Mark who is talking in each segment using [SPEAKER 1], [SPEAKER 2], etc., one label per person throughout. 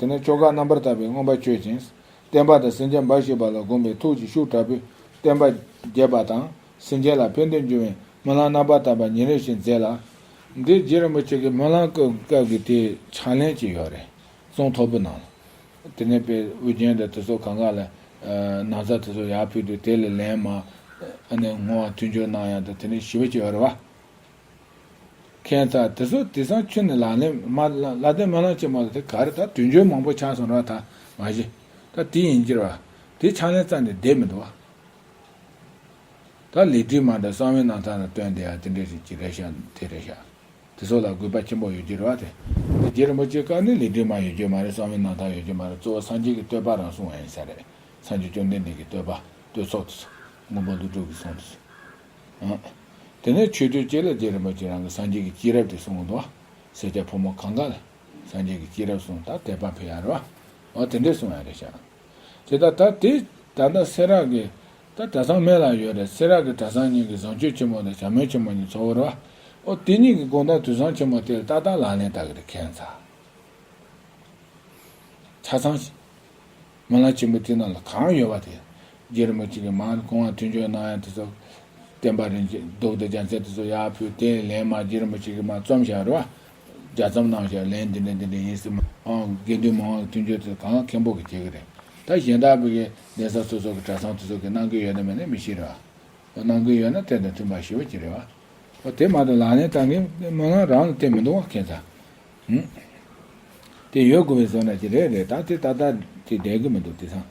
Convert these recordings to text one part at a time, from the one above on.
[SPEAKER 1] དེ་ནས་ཆོ་ག་རྣམ་པར་དག་པས་མངོན་པར་སྤྱོད་ཅིང། བསྟན་པ་དང་སེམས་ཅན་འབའ་ཞིག་པ་ལ་བསྒོམས་པས་ཐུགས་ཀྱི་ཤུགས་དྲག་པོས་བསྟན་པ་རྒྱས་པ་དང། སེམས་ཅན་ལ་ཕན་དོན་འབྱུང་བའི་སྨོན་ལམ་རྣམ་པར་དག་པ་ཉིན་རེ་བཞིན་མཛད་ལ། འདི་རྗེ་རིན་པོ་ཆེ་གི་སྨོན་ལམ་སྐབས་ཀྱི་དེའི་ཕྱག་ལེན་ཅིག་ཡོད་རེད། རྩོམ་ཐོར་བུ་ནང་ལ། དེ་ནས་པའི་དབུ་རྒྱན་དང་དེ་སོགས་གང་གང་ལ། ནང་ཚགས་དེ་སོགས་ཡར་ཕུལ་དུས་དེ་ལས་ལན་མང། ཨ་ནེ་ངོ་བ་མཐུན་སྦྱོར་གནང་ཡང་དང་དེ་ནས་ཞི་བ་བྱེད་པར་རེ་བ། མཁན་དག་དེ་ཚོ་དེ་སང་ཁྱོད་ནས་ལག་ལེན་མ་ལ་དེ་མ་ལ་ཅེས་མ་ལ་དེ་ག་རེ་ད་དུས་འགྱོད་མང་པོ་ཆགས་སོང་ར་ད་མ་གཞི་ད་དེ་ཡིན་གྱིར་བ་དེ་ཕྱག་ལེན་རྩ་ནས་བསྡད་མི་འདུག་བ། ད་ལེ་བྲིས་མ་འདྲ་གསང་བའི་ནང་ཚང་ལ་བཏོན་དེ་ཡང་དེ་འདྲའི་རིགས་ཀྱི་རེ་བཞག་དེ་རེ་བཞག་དེ་ཚོ་ལ་གུས་པ་ཆེན་པོ་ཡོད་གྱིར་བ་དེ་ལེ་རྗེ་རིན་པོ་ཆེ་བཀའ་ནི་ལེ་བྲིས་མ་ཡོད་རྒྱུ་མ་རེད་གསང་བའི་ནང་ཚང་ཡོད་རྒྱུ་མ་རེད་གཙོ་བོ་སངས་རྒྱས་ཀྱི་བསྟོད་པ་རང་གསུང་བ་ཡིན་ས་རེད་སངས་རྒྱས་བཅོམ་ལྡན་འདས་ཀྱི་བསྟོད་པ་བསྟོད་ཚོགས་དེ་ཚོ་མགོན་པོ་བློ་གྲོས་ཀྱི་གསུང་དེ་ཚོ། དེ་ནས་མཆོད་བསྟོད་བཅས་ལ་རྗེ་རིན་པོ་ཆེས་རང་གི་སངས་རྒྱས་ཀྱི་སྐྱེས་རབས་དེ་གསུངས། འདུག་སེར་སྐྱ་ཕོ་མོ་གང་གཱ་ལ། སངས་རྒྱས་ཀྱི་སྐྱེས་རབས་གསུངས་ད་དད་པ་འཕེལ་ཡ་རོ། འོ་དེ་འདྲས་གསུངས་ཡ་རེད་ཤག། དེ་ད་ད་དེ་ད་ད་སེ་རག་གི། ད་གྲ་ཚང་མེད་ལ་ཡོད་རེད་སེ་རག་གི་གྲ་ཚང་གཉིས་ཀྱི་བཟང་སྤྱོད་ཆེན་མོ་དང་བྱ་མོལ་ཆེན་མོ་གཉིས་འཚོ་བོ་རོ། འོ་དེ་གཉིས་ཀྱི་དགོངས་དག་དུས་བཟང་ཆེན་མོ་དེ་ལ་ཏག་ཏག་ལག་ལེན་བསྟར་གི་རེད་མཁན་ཚ། ཚང། མ་ལ་ཆེན་པོ་དེ་རྣམས་ལ་གང་ཡོད་པ་དེ། རྗེ་རིན་པོ་ཆེ་གིས་མང་དུ་གོང་བར་མཐུན་འཇོག་གནང་ཡང་དེ་ཚོ། བསྟན་པ་རིན་ཆེན་རྡོ་བརྡོ་རྒྱ་མཚན་དེ་ཚོ་ཡར་ཕུད་དེ་ལན་མང་རྗེ་རིན་པོ་ཆེ་གིས་མ་རྩོམ་བཞག་རེ་བ། རྒྱ་རྩོམ་གནང་བཞག་ལན་འདི་འདྲ་འདི་འདྲ་ཡིན་ཟེར་མ་ཨང་དགེ་འདུན་མང་བ་མཐུན་འཇོག་དེ་ཚོ་གང་མཁན་པོ་གིས་བྱེད་ཀྱི་རེད་ད་གཞན་དག་གི་གདན་ས་སོ་སོ་གི་གྲྭ་ཚང་དེ་ཚོ་གིས་གནང་གི་ཡོད་དམ་མེད་ནི་མི་ཤེས་རེ་བ། གནང་གི་ཡོད་ན་དེ་དང་མཐུན་པར་ཞུ་བ་གྱིས་རེ་བ། དེ་མ་ཐག་ལག་ལེན་བསྟར་མཁན་མི་ལ་རང་ལ་བརྟེན་མི་འདུག་བ་མཁན་ཚ། ཨེ། དེ་ཡོད་དགོས་པའི་བཟོ་ན་ཅི་རེད་རེད་ད་དེ་ད་ལྟ་ཅི་བསྡད་ཀྱི་མི་འདུག་དེ་སང།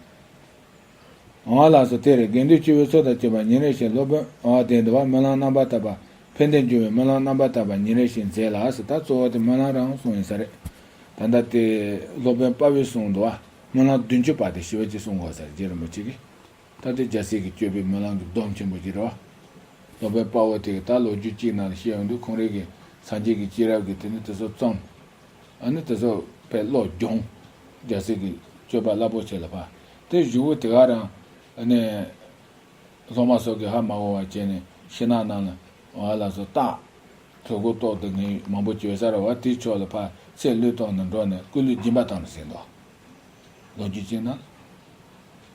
[SPEAKER 1] ཨ་བ་ལགས་སུ་དེ་རེད་དགེ་འདུན་སྤྱི་བོའི་ཚོགས་དང་བཅས་པ་ཉིན་རེ་བཞིན་སློབ་དཔོན་ཨ་བ་དེ་འདི་བ་སྨོན་ལམ་རྣམ་པར་བཏབ་པ་ཕན་བདེ་འབྱུང་བའི་སྨོན་ལམ་རྣམ་པར་བཏབ་པ་ཉིན་རེ་བཞིན་མཛད་ལགས་སུ་ད་གཙོ་བོ་དེ་སྨོན་ལམ་རང་གསུང་ཡིན་ས་རེད་ད་ལྟ་དེ་སློབ་དཔོན་དཔའ་བོའི་གསུང་འདི་བ་སྨོན་ལམ་བདུན་ཅུ་པ་དེ་ཞི་བ་གཅིག་གསུང་དགོས་ས་རེད་རྗེ་རིན་པོ་ཆེ་གིས། ད་ལྟའི་རྒྱལ་སྲས་ཀྱི་སྤྱོད་པའི་སྨོན་ལམ་གྱི་སྡོམ་ཆེན་པོ་གྱི་རོ། སྡོམ་པའི་དཔའ་བོ་དེས་ད་ལོ་རྒྱུས་གཅིག་ནང་ལ་བཤད་ཡོང་དུས་ཁོང་རེ་གིས་སངས་རྒྱས་ཀྱི་སྐྱེས་རབས་ཀྱི་དེ་ནས་དེ་ཚོ་བརྩམས། ཨ་ནི་དེ་ཚོ་བས་བློ་སྦྱོང། རྒྱལ་སྲས་ཀྱི་སྤྱོད་པ་རླབས་པོ་ཆེ་ལ་ཕ་དེ་བཞུགས་བོ་དེ་ག་རང་ཨ་ནི། སློབ་མ་སོགས་ཀྱིས་ཧ་མ་གོ་བ་བྱས་ནས་ཤི་ནག་གནང་ལ་བ་ལ་སོགས་བཏགས། གྲོད་ཁོག་ཏོག་ཏུ་ངན་གཡོ་མང་པོ་བྱོས་སར་བ་དེའི་ཕྱོགས་ལ་ཕ་ཚེ་ལུས་སྟོང་ནས་འགྲོ་ནས་སྐུ་ལུས་སྦྱིན་པ་དང་ལ་ཟིན་ཏོ། ལོ་རྒྱུས་གཅིག་ནང་ལ།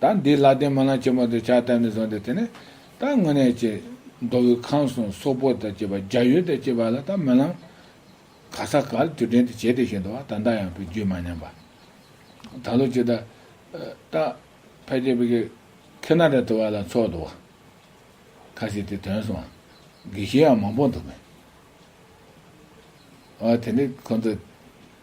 [SPEAKER 1] ད་འདི་ལ་དེ་མ་ལ་ཆེན་པོ་དང་བྱ་བལྟ་ནས་བཟུང་སྟེ་དེ་ནས་ད་དངོས་གནས་ཀྱི། མདོ་དབུས་ཁམས་གསུམ་སོག་པོ་དང་བཅས་པ་རྒྱ་ཡུལ་དང་བཅས་པ་ལ་ད་མི་ལང། ག་ས་གར་དུས་དྲན་དུ་བྱེད་དེ་བཞིན་དུ་བ་ད་ད་ཡང་བུ་རྒྱུད་མ་ཉམས་པ། ད་ལོ་ཅི་ད། ད། ཕལ་ཆེར་བུ་གི། ཁེ་ན་ར་དུ་བ་ལ་འཚོགས་འདུག་བ། ཁ་ཞིག་དེ་དོན་སོང། དགེ་བཤེས་ཡང་མང་པོ་འདུག་མོད། བ་དེ་ནི་ཁོང་ཚོ།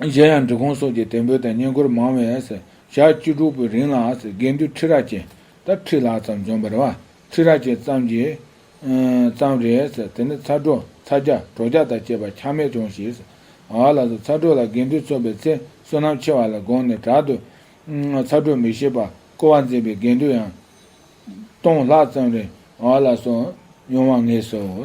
[SPEAKER 1] གཞན་ཡང་འབྲི་གུང་སོགས་ཀྱི་དད་འབུལ་དང་བསྙེན་བཀུར་མང་བས། ཞག་བཅུ་དྲུག་པོའི་རིང་ལ་དགེ་འདུན་ཁྲི་རལ་ཅན་དར་ཁྲི་ལ་ཙམ་འབྱོན་པར་བ་ཁྲི་རལ་ཅན་ཙམ་གྱིས། ཙམ་རེས་དེ་ནས་ཚ་གྲོ་ཚ་རྒྱ་གྲོ་རྒྱ་དང་བཅས་པ་ཆག་མེད་བྱུང་ཞེས། ཨ་ལགས་སུ་ཚ་གྲོ་ལ་དགེ་འདུན་ཚོགས་པའི་ཚེ་བསོད་ནམས་ཆེ་བ་ལ་དགོངས་ནས་དྲག་ཏུ། ཚ་གྲོ་མི་ཤེས་པ་བསྐོ་བ་མཛད་པའི་དགེ་འདུན་ཡང། སྟོང་ལྷག་ཙམ་རེ་ཨ་ལགས་སུ་ཡོང་བར་ངེས་སོ།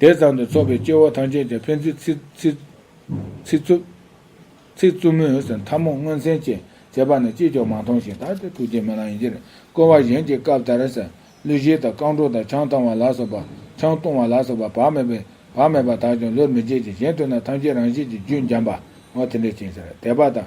[SPEAKER 1] དེ་ཙམ་དུ་ཚོགས་པའི་སྐྱེ་བོ་ཐམས་ཅད་ཀྱང་ཕན་ཚུན་ཚིག་རྩུབ། ཚིག་རྩུབ་མོད་ཟེར་མཐའ་མོ་སྔོན་ཚན་བཅས་བྱས་པ་ནི་ཅིས་ཀྱང་མ་མཐོང་ཞིང་ད་ལྟའི་ཐུགས་རྗེ་མི་ལང་ཡིན་ཕྱིར་བསྐོར་བ་གཞན་གྱི་སྐབས་ལྟར་ཟེར་གླུ་གཞས་དང་རྐང་བྲོ་དང་ཆང་བཏང་བ་ལ་སོགས་པ་ཆང་བཏུང་བ་ལ་སོགས་པ་བག་མེད་པའི་བག་མེད་པ་དག་ཀྱང་བློར་མི་འཇལ་ཅིང་གཞན་དུ་ན་ཐམས་ཅད་རང་བཞིན་གྱིས་རྒྱུན་འབྱམས་པའོ་དེ་འདྲའི་ཕྱིར་ཟེར་དད་པ་དང།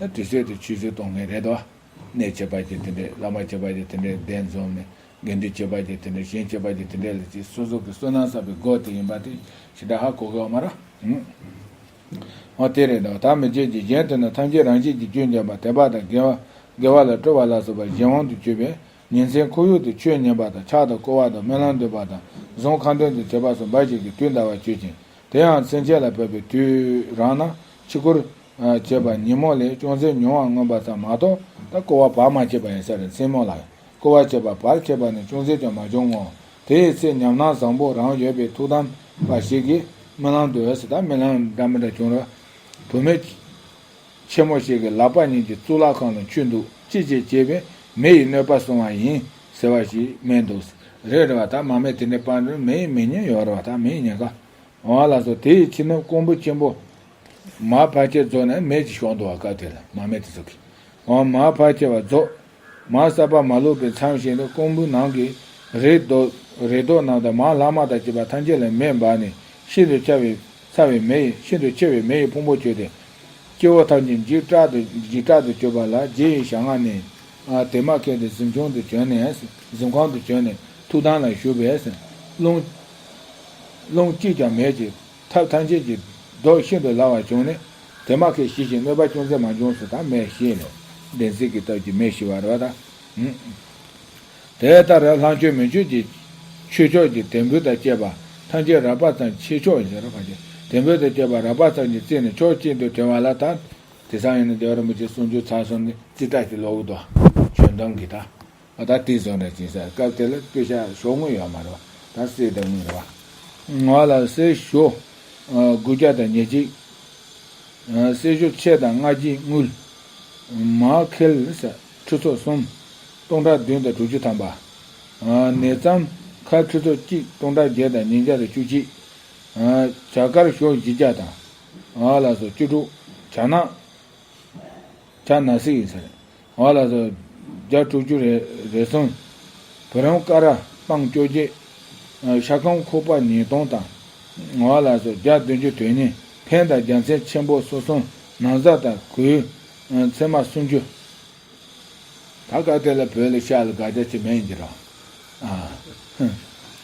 [SPEAKER 1] དུས་ཚོད་དེ་ཆུད་ཟོས་གཏོང་མཁན་རེད་དོ། གནས་བྱེད་པ་ཀྱི་དེ་འདྲས་བླ་མ་བྱེད་པ་ཀྱི་དེ་འདྲས་གདན་འཛོམས་ནས་དགེ་འདུན་བྱེད་པ་ཀྱི་དེ་འདྲས་གཞན་བྱེད་པ་ཀྱི་དེ་འདྲས་ལ་ཅིག་སོ་སོ་གི་བསོད་ནམས་བསགས་པའི་སྒོ་དེ་ཡིན་པ་དེ་ཞེ་དྲག་ཧ་གོ་གི་ཨོ་མ་ར། འོ་དེ་རེད་དོ། ད་མི་བརྗེད་ཀྱི་གཞན་དུ་ནི་ཐམས་ཅད་རང་བཞིན་གྱི་སྐྱོན་འཇམ་པ་དད་པ་དང་དགེ་བ་དགེ་བ་ལ་སྤྲོ་བ་ལ་སོགས་པ་གཞན་དབང་དུ་བསྐྱོད་པས་ཉིན་མཚན་ཁོར་ཡུག་ཏུ་ཆོས་ཉན་པ་དང་ཕྱག་དང་བསྐོར་བ་དང་སྨོན་ལམ་འདོན་པ་དང་གཟུངས་ཁང་འདོན་དུ་བྱེད་པ་སོགས་འབའ་ཞིག་གིས་དུས་འདའ་བར་སྤྱོད་ཅིང། དེ་ཡང་མཚན་བཅས་ལ་བབས་པའི་དུས་རང་ན་ཕྱི་སྐོར། ཅེས་པ་ཉིན་མོ་ལས་ཅུང་ཟད་ཉུང་བར་མངོན་པ་ཙམ་མ་གཏོགས་ད་སྐོར་བ་བར་མ་ཆད་པ་ཡིན་ས་རེད་མཚན་མོ་ལ་སྐོར་བ་བྱེད་པ་བར་ཆད་པ་ནི་ཅུང་ཟད་ཀྱང་མ་བྱུང་ངོ། དེའི་ཚེ་ཉམས་སྣང་བཟང་པོ་རང་ཡོད་པའི་ཐུགས་དམ་པ་ཞིག་གིས་རྨི་ལམ་དུ་འོད་ཟེར་དག་རྨི་ལམ་འདྲ་མི་འདྲ་བྱུང་རབས། དུ་མས། ཆེན་མོ་ཞིག་གི་ལག་པ་གཉིས་ཀྱིས་གཙུག་ལག་ཁང་ལ་འཁྱུད་འདུག་ཅི་བྱེད་ཅེས་པས་མེ་ཡིས་གནོད་པ་སོང་བ་ཡིན་ཟེར་བ་ཞིག་སྨྲས་འདུག་རེད་རེད་བ་དག་མ་མེད་དེ་འདྲའི་པར་འགྲོས་མེ་ཡིས་མི་ཉོན་ཡོད་རེད་བ་དག་མིའི་ཉེན་ཁ་འོང་ལ་སོགས་དེ་ཡི་ཕྱི་ནང་ཀོང་བུ་ཆེན་པོ། མ་ཕར་ཆེར་རྫོགས་ནས་མེ་ཅིག་ཞོག་འདུག་བ་སྐབས་དེར་མ་མེད་དེ་ཟུག་གི། འོང་མ་ཕར་ཆེར་བ་རྫོགས། མ་གསར་པ་མ་ལུས་པའི་མཚམས་ཤིག་ལ་ཀོང་བུའི་ནང་གི་རེ་དོགས་རེ་དོགས་རྣམས་དང་མང་ལྷག་མ་དག་བྱས་པ་ཐམས་ཅད་ལ་མེ་འབར་ནས་ཤིན་ཏུ་ཆ་བའི་ཚ་བའི་མེ་ཡིས་ཤིན་ཏུ་འཆི་བའི་མེ་ཡི་ཕུང་པོ་བསྐྱོད་དེ། སྤྱི་བོ་ཐམས་ཅད་འཇིགས་སྐྲག་ཏུ་འཇིགས་སྐྲག་ཏུ་གྱུར་པ་ལ་རྗེ་ཡི་ཞབས་སྔ་ནས། དེ་མ་ཁད་དེ་གཟིམ་ཆུང་དུ་བྱོན་ནས་གཟིམ་ཁང་དུ་བྱོན་ནས་ཐུགས་དམ་ལ་བཞུགས་པས། རླུང། རླུང་གཅིག་ཀྱང་མེད་ཅིང། ཐབས་ཐམས་ཅད་ཀྱིས། བདོག་ཤིན་ཏུ་ལ་བ་བྱུང་ནས། དེ་མ་ཁས་ཞི་ཞིང་གནོད་པ་ཅུང་ཟད་མ་འབྱུང་སུ་དང་མེ་ཤེས་ནས། བདེན་ཚིག་གི་སྟབས་ཀྱིས་མེ་ཤི་བར་བ་དང། དེ་ལྟར་ལྷ་མཆོད་མེ་མཆོད་ཀྱི། ཆོས་མཆོག་གི་དད་འབུལ་དང་བཅས་པ། ཐམས་ཅད་རགས་པ་ཙམ་ཆེ་མཆོག་གི། དད་འབུལ་དང་བཅས་པ་རགས་པ་ཙམ་གྱིས་བརྩིས་ནས་ཕྱོགས་གཅིག་ཏུ་དྲན་བ་ལ་དང། དེ་སང་ཡང་ནི་རྡོ་རིན་པོ་ཆེ་གསུང་ཆོས་ཚར་གསུམ་ནི་རྩིས་ཁྲ་ཞིག་ལོག་གི་དོ། ཆོས་འདོམས་ཀྱི་དང། ཨ་ད་ཏི་བཟོ་འདྲ་བྱེད་ས་སྐབས་དེ་ལ་སྤུས་ཤ་ཤོག་དངུལ་ཡོད་མ་རོ་ད་སེ་ད་དངུལ་རོ་ང་ལ་སེ་ཤོ་དགུ་བརྒྱ་དང་ཉེར་གཅིག་སེ་ཤོ་ཕྱེད་དང་ལྔ་བརྒྱའི་དངུལ་མ་ཁེལ་ས་ཁྲི་ཚོ་གསུམ་སྟོང་ཕྲག་བདུན་དང་དྲུག་ཅུ་ཐམ་པ་ནས་བརྩམ་ཁ་ཁྲི་ཚོ་གཅིག་སྟོང་ཕྲག་བརྒྱད་དང་ཉིས་བརྒྱ་དང་བཅུ་གཅིག་བྱ་དཀར་ཤོག་བཞི་བརྒྱ་དང་ལ་སོ་བཅུ་དྲུག་བྱ་ནག་བྱ་ནག་སེ་ཡིན་ཟེར་ང་ལ་སོར་བརྒྱ་དྲུག་ཅུ་རེ་བཟུང། བུ་རམ་ཀ་ར་སྤང་སྐྱོ་བརྒྱད། ཤ་ཁམ་ཁུག་པ་ཉིས་སྟོང་དང། ང་ལ་སོར་བརྒྱ་བདུན་ཅུ་དོན་གཉིས་ཕན་དང་རྒྱ་མཚན་ཆེན་པོ་སོ་གསུམ་ན་བཟའ་དང་གོས་ཚེར་མ་སུམ་ཅུ། ད་སྐབས་དེ་ལ་བོད་ལ་ཤ་ལ་དགག་བྱ་ཅི་མེད་འགྱུར་རོ།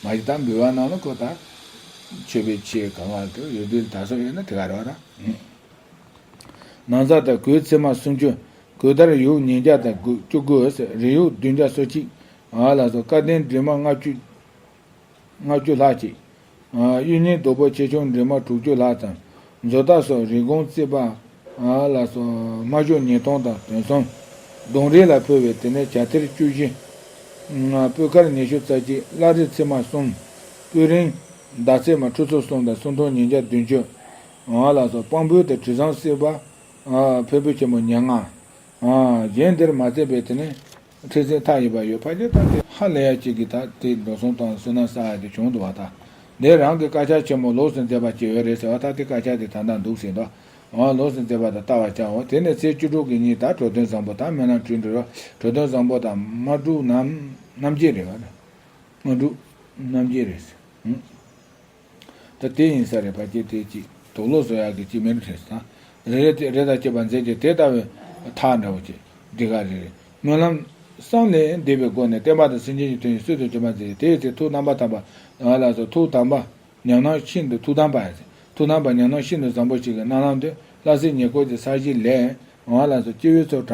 [SPEAKER 1] མ་གཞི་དང་འབུལ་བ་གནང་ན་ཁོ་ཐག་ཆོད་པའི་ཕྱིར་གང་ལ་ཐུག་ཡུལ་དུས་ད་སོགས་ཡོད་ན་དེ་ག་རོགས་ར། ནང་ཟགས་དང་གོས་ཚེར་མ་སུམ་ཅུ། གོས་དར་ཡུག་ཉིས་བརྒྱ་དང་དགུ་བཅུ་གོས་རི་ཡུག་བདུན་བརྒྱ་སོ་གཅིག། ལ་སོགས་བཀའ་བསྟན་འབྲི་མ་ལྔ་བཅུ། ལྔ་བཅུ་ལྷག་ཅིག། གཡུ་རྙིང་རྡོ་སྦོས་ཆེ་ཆུང་འབྲི་མ་དྲུག་བཅུ་ལྷག་དང། མཛོ་རྟ་སོགས་རི་གོང་རྩིས་པ། ལ་སོགས་སྨྲ་བརྗོད་ཉིས་སྟོང་དང་དོན་གསུམ། གདུང་རིགས་ལ་ཕུལ་བའི་དེ་ནས་བྱ་ཐེར་བཅུ་བཞི། སྤོས་དཀར་ཉི་ཤུ་རྩ་གཅིག་བླ་རི་ཚེར་མ་གསུམ། སྤོས་རིང། མདའ་ཚེར་མ་ཁྲུ་ཚོ་གསུམ་དང་སུམ་སྟོང་ཉིས་བརྒྱ་བདུན་ཅུ། ལགས་སོ་དཔང་པོའི་དང་དྲི་བཟང་བསྲེས་པ། ཕོད་པོ་ཆེན་པོ་མྱ་ང། གཞན་དེར་མ་བརྩེགས་པའི་དེ་ནི། ཁྲི་སེང་ཐག་ཡིན་པར་ཡོད་ཕ་ཁྱེད་དང་དེ། ཧ་ལས་ཡ་གཅིག་གིས་ད་དེ་འགྲོ་སོང་དང་བསོད་ནམས་བསགས་ཡ་དེ་བྱུང་འདུག་བ་ད། དེ་རང་གི་དཀར་ཆག་ཆེན་མོ་ལོགས་སུ་འཛེགས་པ་བྱས་ཡོད་རེད་ཟེར་བ་ད་དེ་དཀར་ཆག་དེ་ད་ད་འདུག་ཟེར་འདུག་བ། ལོགས་སུ་འཛེགས་པ་ད་བལྟ་བར་བྱའོ་དེ་ནས་ཚེས་བཅུ་དྲུག་གི་ཉིན་ད་གྲོ་དོན་བཟང་པོ་ད་སྨོན་ལམ་ཁྲི་འདྲི་རོགས་གྲོ་དོན་བཟང་པོ་ད་མ་གྲུག་ནམ་རྣམ་རྒྱལ་རེད་བ། མ་གྲུག་རྣམ་རྒྱལ་རེད། ད་དེ་ཡིན་ས་རེད་བ་ཀྱེ་དེ་ཅིག་དོགས་ལོ་བཟོ་ཡག་གི་ཅིག་མེ་རི་ཁྲེས་ད་རེ་རེ་ཏེ་རེ་ད་ཅེས་པ་མཛད་ཀྱི་དེ་ལྟ་བའི་ཐག་འདྲ་བོ་ཅིག་འདི་ག་རེ་རེ་སྨོན་ལམ་བསམ་ནས་བཟླས་པའི་སྒོ་ནས་བསྟན་པ་དང་སེམས་ཅན་གྱི་དོན་ཡིན་སྲོལ་དུ་བྱོན་པ་མཛད་དེའི་ཚེ་ཐུགས་དམ་པ་དམ་པ་ཡང་ལ་སོགས་ཐུགས་དམ་པ་ཉམས་སྣང་ཤིན་ཏུ་ཐུགས་དམ་པ་ཡང་ཐུགས་དམ་པ་ཉམས་སྣང་ཤིན་ཏུ་བཟང་པོ་ཞིག་གི་རྣ་ལམ་དུ་ལྷ་སའི་ཉེ་སྐོར་གྱི་ས་གཞི་ལས་ཡང་ལ་སོགས་སྤྱི་བོའི་ཚོགས་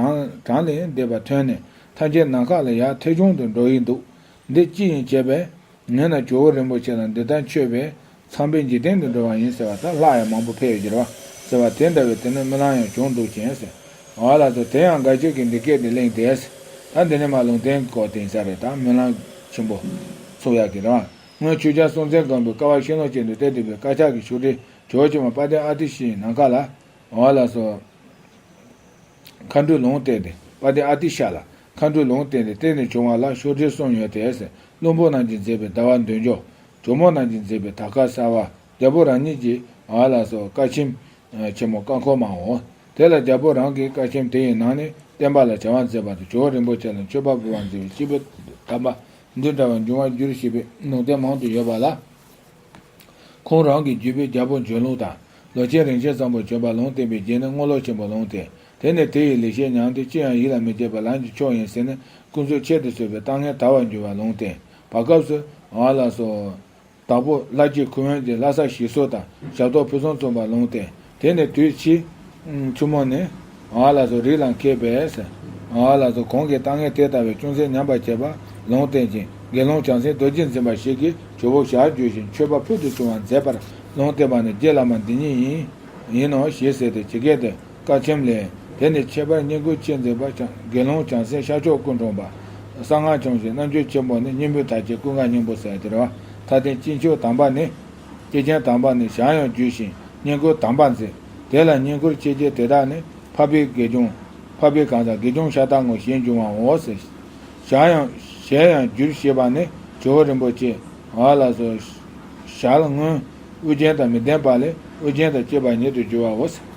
[SPEAKER 1] གྲངས་ལས་འདས་པ་ཐོན་ནས་ཐམས་ཅད་ནམ་མཁའ་ལ་ཡར་ཐལ་ཆུང་དུ་འགྲོ་ཡི་འདུག་འདི་ཅི་ཡིན་བྱས་པས། ངས་ན་ཇོ་བོ་རིན་པོ་ཆེ་དང་འདི་ལྟར་མཆོད་པས། ཚངས་པའི་འཇིག་རྟེན་དུ་འགྲོ་བ་ཡིན་ཟེར་བ་དང་ལྷ་ཡང་མང་པོ་ཕལ་ཡོད་གྱུར་པ། ཟེར་བ་དེ་འདྲ་བའི་དེ་ནས་རྨི་ལམ་ཡང་བྱུང་འདུག་ཅེས་ཟེར། ཨོ་ལགས་ཚོ་དེ་ཡང་དགའ་ཆོས་ཀྱིས་འདི་སྐད་དུ་གླེང་དེས། ད་འདི་ནི་མ་ལུང་བསྟན་གོ་བསྟན་ས་རེད་ད་རྨི་ལམ་ཆེན་པོ། ཚུགས་ཡག་གི་རེད། སྔོན་ཆོས་རྒྱལ་སྲོང་བཙན་སྒམ་པོས་ཀ་བ་ཤིང་ལོ་ཅན་དུ་གཏད་འདུག་པའི་དཀར་ཆག་གི་ཕྱུགས་དྲིལ་གྲོགས་ཆེན་མོ་དཔལ་ལྡན་ཨ་ཏི་ཤའི་ནམ་མཁའ་ལ། ཨོ་ལགས་ཚོ། མཁའ་འགྲོའི་ལུང་བསྟན་ཏེ་དཔལ་ལྡན་ཨ་ཏི་ཤ་ལ་མཁའ་འགྲོས་ལུང་བསྟན་ཏེ་གཏེར་ནས་བྱུང་བ་ལ་ཤོག་དྲིལ་གསུམ་ཡོད་དེ། བློན་པོ་རྣམས་ཀྱིས་མཛད་པའི་ཟླ་བ་འདོན་ཆོག། གྲོ་མོ་རྣམས་ཀྱིས་མཛད་པའི་དར་དཀར་གསར་བ། རྒྱལ་པོ་རང་ཉིད་ཀྱིས་ཨ་ལ་སོགས་བཀའ་ཆེམས། ཆེན་མོ་བཀའ་འཁོར་མའོ། དེ་ལ་རྒྱལ་པོ་རང་གིས་བཀའ་ཆེམས་དེ་ཡི་ནང་ནས་བསྟན་པ་ལ་བྱ་བ་མཛད་པ་དང་ཇོ་བོ་རིན་པོ་ཆེ་ལ་མཆོད་པ་འབུལ་བར་མཛད་པའི་སྤྱི་བོས་གདམས་པ་འདི་འདྲ་བ་འབྱུང་བར་འགྱུར་ཞེས་པའི་ལུང་བསྟན་མང་དུ་ཡོད་པ་ལ། ཁོང་རང་གི་རྒྱུད་པའི་རྒྱལ་པོ་འབྱོན་ལུགས་དང། ལོ་ཆེན་རིན་ཆེན་ཚངས་པོ་བྱོན་པ་ལུང་བསྟན་པའི་རྒྱན་ནི་དངོས་ལོ་ཆེན་པོ་ལུང་བསྟན། དེ་ནས་དེ་ཡི་ལེགས་བཤད་མྱང་སྟེ་ཅི་ཡང་ཡིད་ལ་མི་བྱེད་པར་ལམ་གྱི་མཆོག་ཡིན་ཟེར་ནས་ཀུན་སྩོལ་ཁྱད་དུ་གསོད་པའི་ལྟ་ངན་དར་བར་འགྱུར་བ་ལུང་བསྟན་པ་སྐབས་སུ། ཨ་ལ་སོ། དྭགས་པོ་ལྷ་རྗེ་ཁུ་དབོན་གྱིས་ལྷ་ས་ཞི་སོ་དང་ཞབས་ཏོག་ཕུན་སུམ་ཚོགས་པར་ལུང་བསྟན། དེ་ནས་དུས་ཕྱིས། ཆུ་མོ་ནི། ཨ་ལ་སོ་རིགས་ལ་མཁས་པས། ཨ་ལ་སོ་གོང་གི་ལྟ་ངན་དེ་ལྟ་བས་ཅུང་ཟད་ཉམས་པར་བྱས་པར་ལུང་བསྟན་ཅིང་དགེ་སློང་བྱང་སེམས་རྡོ་རྗེ་འཛིན་པ་ཞིག་གིས་ཇོ་བོ་ཞག་བརྗོད་བཞིན་མཆོད་པ་ཕུལ་དུ་བྱུང་བར་མཛད་པར་ལུང་བསྟན་པ་ནི་རྗེ་བླ་མ་འདི་ཉིད་ཡིན། ཡིན་ནོ་ཞེས་ཟེར་ཏེ་ཇི་སྐད་དུ། བཀའ་ཆེམས་ལས། དེ་ནས་ཁྱད་པར་སྙན་བསྐུལ་ཅི་མཛད་པ། དགེ་སློང་བྱང་སེམས་ཤར་ཕྱོགས་སྐུ་འཁྲུངས་པ། གསང་སྔགས་སྐྱོང་བྱེད་རྣམ་དཔྱོད་ཆེན་པོ་ནི་སྙིང་པོའི་དར་གྱི་སྐུ་མཁའ་སྙིང་པོ་གསལ་འདིར་བ། མཐའ་རྟེན་སྤྱི་མཆོག་དམ་པ་ནི། སྐྱེས་ཆེན་དམ་པ་ནི་ཞག་ཡང་བརྒྱུད་ཞིང་སྙན་བསྐུལ་དམ་པ་མཛད། དེ་ལ་སྙན་བསྐུལ་ཆེ་ཆེ་དེ་དག་ནི་འཕགས་པའི་དགེ་སྦྱོང། འཕགས་པའི་གང་ཟག་དགེ་སྦྱོང་ཤ་སྟག་ངོ་ཞེས་འབྱུང་བ་འོ་ཟེར། ཞག་ཡང། ཞལ་ཡང་བསྒྱུར་ཞེས་པ་ནི་ཇོ་བོ་རིན་པོ་ཆེ། ཨཱ་ལ་སོ། ཞལ་སྔོན། དབུ་རྒྱན་དང་མི་ལྡན་པ་ལས་དབུ་རྒྱན་དང་བཅས་པ་ཉིད་དུ་བསྒྱུར་བ་འོ་ཟེར།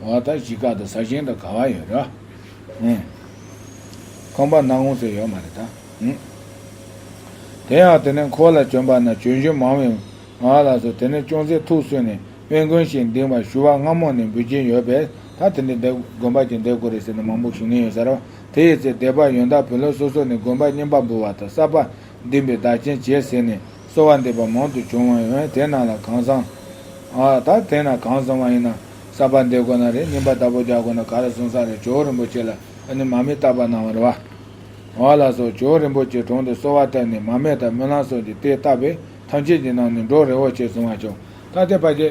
[SPEAKER 1] བ་ད་གཞི་བཀག་ད་ཟ་ཞིང་ད་ག་བ་ཡོད་ར་ཨེ། ཁང་པ་ནང་ངོ་ཟེར་ཡོད་མ་རེད་ད་ཨེ། དེ་ཡང་དེ་ནས་འཁོར་ལ་བྱོན་པ་ན་བྱོན་བཞིན་མང་བས་ང་ལ་སོ་དེ་ནས་ཅུང་ཟད་ཐུགས་གསོས་ནས་དབེན་དགོན་ཞིག་འདིང་བར་ཞུ་བ་སྔ་མོ་ནས་འབུལ་གྱིན་ཡོད་པས་ད་དེ་འདི་འདེབས་དགོན་པ་གྱི་འདེབས་དགོས་རེད་ཟེར་ནས་མང་པོ་ཞུ་ངེས་ཡོད་ས་ར་བ་དེ་ཡི་ཚེ་སྡེ་པ་ཡོན་བདག་བུ་ལོན་སོ་སོ་ནས་དགོན་པ་བསྙེན་པ་འབུལ་བ་ད་གསར་པ་འདིང་པའི་བདག་རྐྱེན་བྱེད་ཟེར་ནས། གསོལ་བ་འདེབས་པ་མང་དུ་བྱུང་བ་ཡིན་བས་དེ་རྣམས་ལ་གང་བཟང། ད་དེ་ན་གང་བཟང་བ་ཡིན་ན་གསར་པ་འདེབས་དགོས་ན་རེ་སྙིང་པ་དག་པོ་རྒྱག་དགོས་ན་ག་རེ་བཟང་ས་རེ་ཇོ་བོ་རིན་པོ་ཆེ་ལ་ཨ་ནི་མ་མི་རྟག་པ་གནང་བ་རེ་བ། ཨོ་ལགས་སོགས་ཇོ་བོ་རིན་པོ་ཆེའི་དྲུང་དུ་གསོལ་བ་བཏབ་ནས་མ་སྨད་དང་སྨོན་ལམ་སོགས་ཀྱིས་དེ་བཏབ་པས་ཐམས་ཅད་ཀྱི་ནང་ནས་འགྲོ་རེ་བོ་ཆེ་བཟང་བ་བྱུང་ད་ལྟའི་བར་གྱི།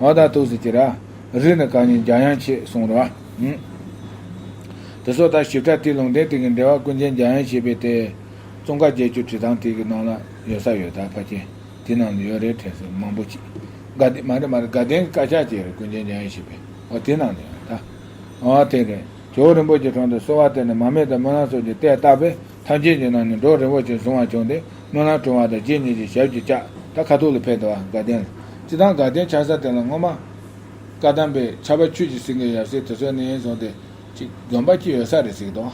[SPEAKER 1] ང་དང་ཐུགས་སུ་ཅི་ར། རིགས་ནི་གང་ཉིད་འཇམ་དབྱངས་ཆེས་གསུང་རོ། དེ་སོགས་དག་ཞིབ་ཕྲ་ཏིལ་ལུང་བསྟན་སྟེང་གི་འགྲེལ་བ་ཀུན་མཁྱེན་འཇམ་དབྱངས་བཞེད་པའི་ཏེ། ཙོང་ཁ་བརྒྱད་ཅུ་བྲིས་ཐང་ཐིག་གི་ནང་ལ་ཡོད་ས་ཡོད་དཱ་ཕ་ཁྱེད་དེ་ནང་དུ་ཡོད་རེད་དྲན་སོ་མང་པོ་གྱིས། དགའ་ལྡན་མ་རེད་མ་རེད་དགའ་ལྡན་གྱི་བཀའ་ཤག་ཅེས་རེད་ཀུན་མཁྱེན་འཇམ་དབྱངས་བཞེད་པའི་འོ་དེ་ནང་དུ་ཡོད་དཱ། འོ་དེ་རེད། ཇོ་བོ་རིན་པོ་ཆེ་གྲོང་དུ་གསོལ་བ་བཏབ་ནས་མ་མེ་དང་སྨོན་ལམ་སོགས་ཀྱི་ལྟས་བཏབ་པས་ཐམས་ཅད་ཀྱི་ནང་ནས་འབྲོག་རིན་པོ་ཆེ་བཟུང་བ་བྱུང་སྟེ་སྨོན་ལམ་གྲོལ་བ་དང་རྗེ་ཉིད་ཀྱི་ཞབས་ཀྱི་ལྕགས་ཐག་ཁ་ཐུག་ལ་ཕེབས་དུ་བ་དགའ་ལྡན་ལ། ཅི་དང་དགའ་ལྡན་ཕྱག་ས་དེ་ལ་སྔོན་མ། བཀའ་གདམས་པའི་ཆར་པ་ཆུས་ཀྱི་སིང་གེ་ཡབ་སྲས་དེ་ཚོའི་གནས་ཡིན་བཟུང་སྟེ། ཅིག་དགོན་པ་སྐྱིད་ཡོད་ས་རེད་ཟིག་དང།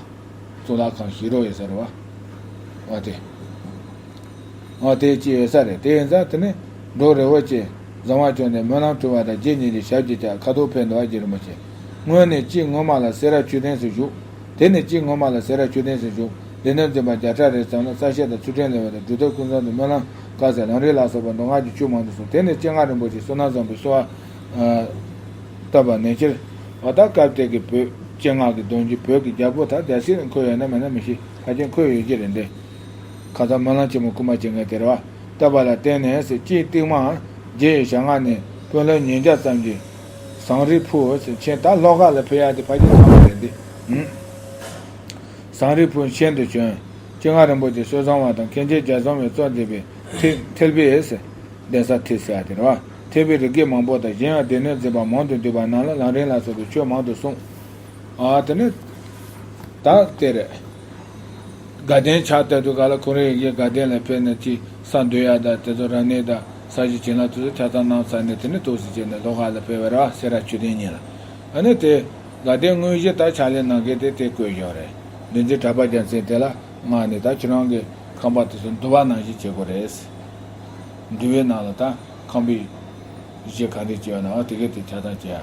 [SPEAKER 1] གཙུག་ལག་ཁང་ཞིག་རོགས་ཡོད་ས་རེད་བ། འོ་དེ། འོ་དེ་སྐྱིད་ཡོད་ས་རེད་དེ་ཡིན་ཙང་དེ་ནས་འབྲོག་རིན་པོ་ཆེ་བཟང་བ་བྱུང་སྟེ་སྨོན་ལམ་གྲོལ་བ་དང་རྗེ་ཉིད་ཀྱི་ཞབས་ཀྱི་ལྕགས་ཁ་ཐུག་ཕེབས་དུ་བ་རྗེ་རིན་པོ་ཆེ་སྔོན་ནས་ཅིག་སྔོན་མ་ལ་སེ་ར་ཆུས་ལྡན་སུ་བཞུགས། དེ་ནས་དཔྱིད་སྔོན་མ་ལ་སེ་ར་མཆོད་རྟེན་ཟེར་བཞུགས། དེ་ནས་འཛིན་པ་བརྒྱ་ཕྲག་རེ་ཙམ་ལ་རྩ་བཤད་དང་ཚུལ་ཕྲན་ལེན་བ་དང་སྒྲུབ་ཐབས་ཀུན་བཟང་དུ་སྨོན་ལམ། བཀའ་སྩལ་རང་རིག་ལ་སོགས་པ་མདོ་སྔགས་ཀྱི་ཆོས་མང་དུ་གསུངས་དེ་ནས་སྤྱན་སྔ་རིན་པོ་ཆེ་བསོད་ནམས་བཟང་པོའི་གསོལ་བ། བཏབ་པ་ནན་ཆེར། བ་ད་སྐབས་དེ་གི་བོད་སྤྱན་སྔགས་ཀྱི་གདོན་གྱིས་བོད་ཀྱི་རྒྱལ་པོ་དང་རྒྱལ་སྲིད་ལ་འཁོད་ཡོད་ན་མེད་ན་མི་ཤེས་ཕ་རྒྱལ་འཁོད་ཡོད་ཀྱི་རེད་འདི། ཁ་ཚང་སྨོན་ལམ་ཆེན་མོ་སྐུལ་མ་བྱེད་མཁན་དེར་བ། བཏབ་པ་ལ་བརྟེན་ནས་སེ་སྐྱིད་གཏིག་མ། རྗེ་ཡི་ཞལ་སྔ་ནས། དཔོན་སློབ་ཉིས་བརྒྱ་ཙམ་གྱིས། ཟངས་རི་ཕུ་འོད་ཟེར་ཆེན་ད་ལྷོ་ཁ་ལ་ཕེབས་ཡག་འདི་ཕ་གྱི་ཚ་མོ་རེད་འདི། ཟངས་རི་ཕུ་ཆེན་དུ་བྱོན། སྤྱན་སྔ་རིན་པོ་ཆེ་སྲོལ་བཟང་བ་དང་མཁན་ཆེན་རྒྱ་མཚོ་མའི་གཙོ་མཛད་པའི་ཐིག་ཐིལ་བི་ཨེ་སི། གདན་ས་ཐིག་སེ་ཨ་དེར་བ་ཐེ་བི་རི་ཀས་མང་པོ་དང་གཞན་ཡང་སྡེ་སྣོད་འཛིན་པ་མང་དུ་འདུས་པ་རྣམས་ལ་ལང་རིང་ལ་སོགས་པའི་ཆོས་མང་དུ་གསུངས། ཨ་དེ་ནས། ད་དེར། དགའ་ལྡན་ཕྱག་དེ་ཚོ་ག་ལ་ཁོ་རེ་ཡིན་གྱི་དགའ་ལྡན་ལ་ཕེབས་ནས་ཅི་ས་འདོད་ཡག་དང་དེ་ཚོ་ར་གནས་དང་ས་གཞི་བྱིན་རླབས་དེ་ཚོ་ཆ་ཚང་གནང་ས་ནས་དེ་ནས་ཐུགས་བཞེད་བྱས་ནས་ལྷོ་ཁ་ལ་ཕེབས་བར་བ་སེ་ར་ཆུ་ལྡན་གཉིས་ལ་ཨ་ནི་དེ། དགའ་ལྡན་དངོས་གཞི་ད་ཕྱག་ལས་གནང་གི་དེ་དེ་བསྐོས་བཞག་རེད་འདི་འཛིན་གྲྭ་པ་རྒྱལ་མཚན་དེ་ལ་མངགས་ནས་ད་ཁྱེད་རང་གི་ཁང་པ་དེ་ཚོ་འདུལ་བ་ནང་བཞིན་བྱེད་དགོས་རེད། འདུལ་བའི་ནང་ལ་ད་ཁང་པའི་གཞི་ག་འདྲས་བྱས་ཡོད་ནའང་དེ་གས་དེ་ཆ་ཚང་བྱས་ཡ།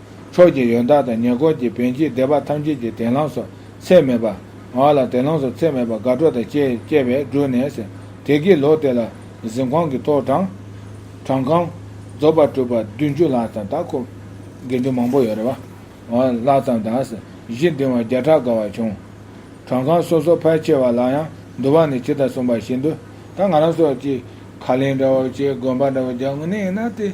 [SPEAKER 1] ཕྱོགས་ཀྱི་ཡོན་བདག་དང་ཉེ་འཁོར་གྱི་བན་གྱིས་སྡེ་པ་ཐམས་ཅད་ཀྱི་དན་ལང་སོགས་ཚད་མེད་པ། ངག་ལ་དན་ལང་སོགས་ཚད་མེད་པ་དགའ་སྤྲོ་དང་བཅས་བསྐྱེད་པས་བསྒྲུབས་ནས། དེ་སྐད་ལོ་དེ་ལ་གཟིམས་ཁང་གི་ཐོག་དྲངས། དྲངས་ཁང། རྫོགས་པར་གྲུབ་པ་བདུན་ཅུ་ལྷག་ཙམ་དང་འཁོར། དགེ་འདུན་མང་པོ་ཡོད་རེ་བ། ལྷག་ཙམ་དང། གཞི་འདིང་བ་བརྒྱ་ཕྲག་དགའ་བ་བྱུང། དྲངས་ཁང་སོ་སོ་ཕལ་ཆེ་བ་ལ་ཡང་འདུ་བ་ནི་ཇི་ལྟར་གསུངས་པ་བཞིན་དུ། ད་ང་རང་སོགས་ཀྱིས་ཁ་ལེན་འདྲ་བོ་བྱས་དགོན་པ་འདྲ་བོ་རྒྱག་མི་ནུས་ན་དེ།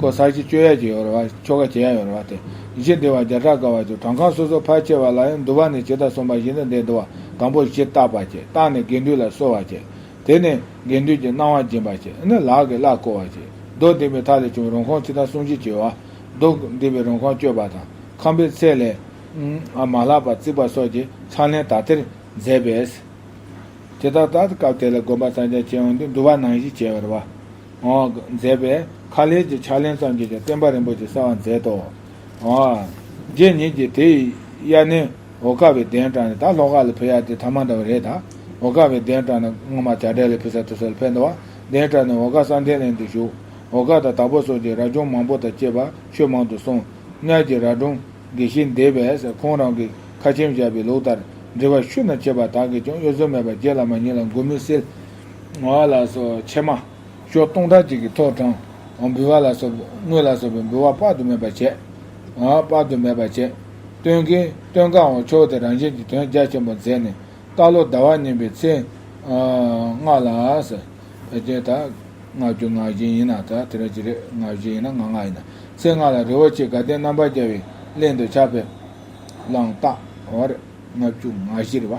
[SPEAKER 1] ཀོ་ས་ཆི་སྤྱོད་ཡ་ཅི་ཡོད་རེད་བ་ཆོ་ག་བྱེད་ཡ་ཡོད་རེད་བ་དེ་གཞི་འདི་བ་བརྒྱ་ཕྲག་དཀའ་བ་ཅུ་གྲངས་ཁང་སོ་སོ་ཕར་ཆེར་བ་ལ་ཡང་འདུ་བ་ནས་ཇི་ལྟར་གསུངས་པ་བཞིན་དུ་འདི་འདུ་བ་དང་པོ་གཞི་བཏགས་པ་བྱེད་བཏགས་ནས་དགེ་འདུན་ལ་གསོལ་བ་བྱེད་དེ་ནས་དགེ་འདུན་གྱི་གནང་བ་སྦྱིན་པ་བྱེད་ནས་ལག་གིས་བླ་བསྐོ་བ་བྱེད་རྡོ་འདིང་བའི་ཐག་ལས་བྱུང་བའི་རོང་ཁང་ཕྱི་ཐང་སུམ་བཅུ་བྱེད་བ་རྡོ་འདིང་བའི་རོང་ཁང་བསྐྱོད་པ་དང་ཁང་པའི་ཚད་ལས། མ་ལྷག་པ་བརྩིགས་པ་སོགས་ཀྱི་ཚང་ལེན་དག་ཐེར་མཛད་པས། དེ་དག་དག་སྐབས་དེ་ལ་དགོན་པ་ཚང་ཆ་ཆེ་ཡང་འདི་འདུ་བ་ནང་བཞིན་བྱས་ཡོད་རེད་བ། མཛད་པས་ཁ་ལས་ཀྱི་ཕྱག་ལེན་ཙམ་གྱིས་ཀྱང་བསྟན་པ་རིན་པོ་ཆེ་གསལ་བར་མཛད་དོ། རྗེ་ཉིད་ཀྱིས་དེ་ཡི་དབྱར་གནས་འོ་སྐ་བའི་གདན་དྲངས་ནས་ད་ལྷོ་ཁ་ལ་ཕེབས་ཡ་དེ་ཐ་མ་འདྲ་བ་རེད་ད། འོ་སྐ་བའི་གདན་དྲངས་ན་སྔོན་མ་བྱ་བྲལ་ལས་ཕེབས་ས་དེ་སོགས་ལ་ཕེབས་འདུག་བ་གདན་དྲངས་ནས་འོ་སྐ་བསམ་གཏན་ལེན་དུ་བཞུགས། འོ་སྐ་དང་དྭགས་པོ་སོགས་ཀྱི་རྭ་ཅོང་མང་པོ་དང་བཅས་པ་ཆོས་མང་དུ་གསུངས། གཉགས་ཀྱི་རྭ་གྲོང་དགེ་བཤེས་འདས་པས་ཁོང་རང་གིས་ཁ་ཆེམས་བཞག་པའི་ལུགས་ལྟར་འབྲི་བར་ཤུ་ན་ཆེ་བ་དག་གིས་ཀྱང་གཡོ་ཟོལ་མེད་པར་རྗེ་བླ་མ་ཉིད་ལ་མགོན་མིང་སིལ་ངོ་བ་ལ་སོགས་ཕྱེ་མ། ཕྱོགས་སྟོང་ཕྲག་གཅིག་གི་ཐོག་དྲངས། འབུལ་བ་ལ་སོགས་པའི་དངོས་ལ་སོགས་པའི་འབུལ་བ་དཔག་ཏུ་མེད་པ་བྱས། དཔག་ཏུ་མེད་པ་བྱས། སྟོན་གྱི། སྟོན་གང་བ་མཆོག་དེ་རང་བཞིན་གྱི་དོན་རྒྱ་ཆེན་པོ་མཛད་ནས། རྟ་ལོ་ཟླ་བ་བསྙེན་པའི་ཚེ། སྔགས་ལ། བེ་ཅོན་དག། སྔགས་རྒྱུ་ངག་བཞིན་ཡིན་ན་དག་དེ་རང་ཅི་རེད་ངག་བཞིན་ཡིན་ན་ངག་སྔགས་ཡིན་ན། ཚེ་སྔགས་ལ་རི་བོ་ཆེ་དགའ་ལྡན་རྣམ་པར་རྒྱལ་བའི་གླིང་དུ་ཕྱག་ཕེབས། བླངས། བརྟགས། ལྔ་བཅུ་ང་བཞི་རེ་བ།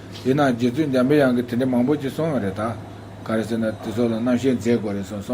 [SPEAKER 1] དེས་ན་རྗེ་བཙུན་འཇམ་པའི་དབྱངས་ཀྱིས་དེ་འདྲའི་མང་པོ་ཅིག་གསུངས་ཡོད་རེད་ད། ག་རེ་ཟེར་ན་དེ་ཚོ་ལ་རྣམ་བཤད་མཛད་དགོས་རེད་གསུངས་སོང།